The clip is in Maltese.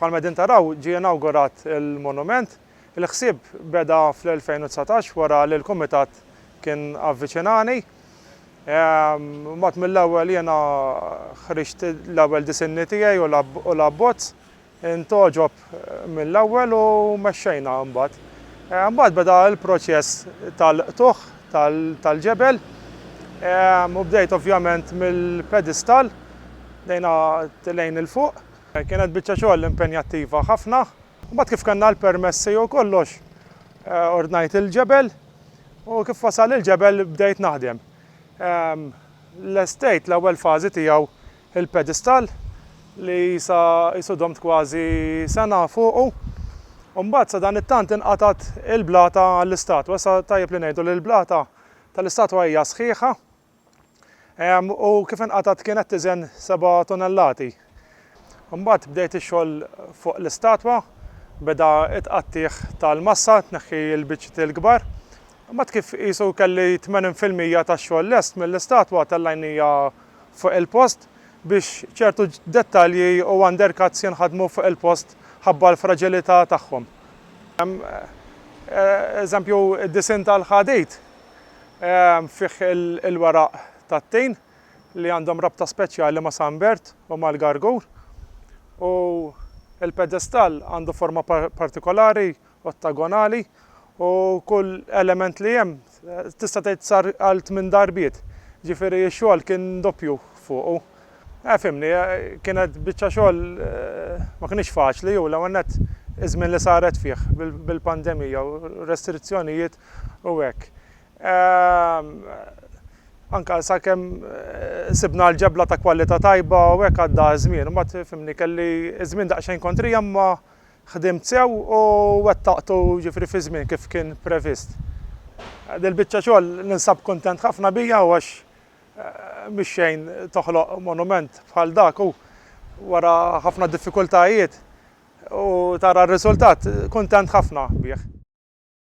Bħalma qegħdin taraw, ġie inawgurat il-monument. Il-ħsieb beda fl-2019 wara li l-Kumitat kien avviċinani. Mbagħad mill-ewwel jiena ħriġt l-ewwel disinni tiegħi u l-abbozz, intgħoġob mill-ewwel u mexxejna mbagħad. Mbagħad beda l-proċess tal-qtugħ tal-ġebel u bdejt ovvjament mill-pedestal, bdejna lejn 'il fuq. Kienet biċċa xogħol impenjattiva ħafna. Mbagħad kif kellna l-permessi u kollox, ordnajt il-ġebel u kif wasal il-ġebel bdejt naħdem. Lestejt l-ewwel fażi tiegħu, il-pedestal, li sa qisu domt kważi sena fuqu. U mbagħad sadanittant inqatgħet il-blata għall-istatwa. Issa tajjeb li ngħidu li l-blata tal-istatwa hija sħiħa. U kif inqatgħet kienet tiżen seba' tunellati. Imbagħad bdejt ix-xogħol fuq l-istatwa, beda t-tqattigħ tal-massa, tneħħi l-biċċiet il-kbar. Imbagħad kif qisu kelli tmenin fil-mija tax-xogħol lest mill-istatwa tellajnija fuq il-post biex ċertu dettalji u undercuts jinħadmu fuq il-post ħabba l-fraġilità tagħhom. Eżempju, id-disinn tal-ħadid fih il-weraq tat-tin li għandhom rabta speċjali ma' San Bert u mal-Gargur, u l-pedestall għandu forma partikolari, ottagonali, u kull element li hemm tista' tgħid sar għal tmien darbiet, ġifieri x-xogħol kien doppju fuqu. Eh, fhimni, kienet biċċa xogħol ma kinitx faċli u l-ewwel nett iż-żmien li saret fih bil-pandemija u r-restrizzjonijiet u hekk. Anke sakemm sibna l-ġebla ta' kwalità tajba u hekk għadda ż-żmien. Imbagħad fimni kelli ż-żmien daqsxejn kontrija imma ħdimt sew u wettaqtu jiġifieri fiż-żmien kif kien previst. Dil-biċċa xogħol ninsab kuntent ħafna bija u għax mix-xejn toħloq monument bħal dak u wara ħafna diffikultajiet u tara r-riżultat, kuntent ħafna bih.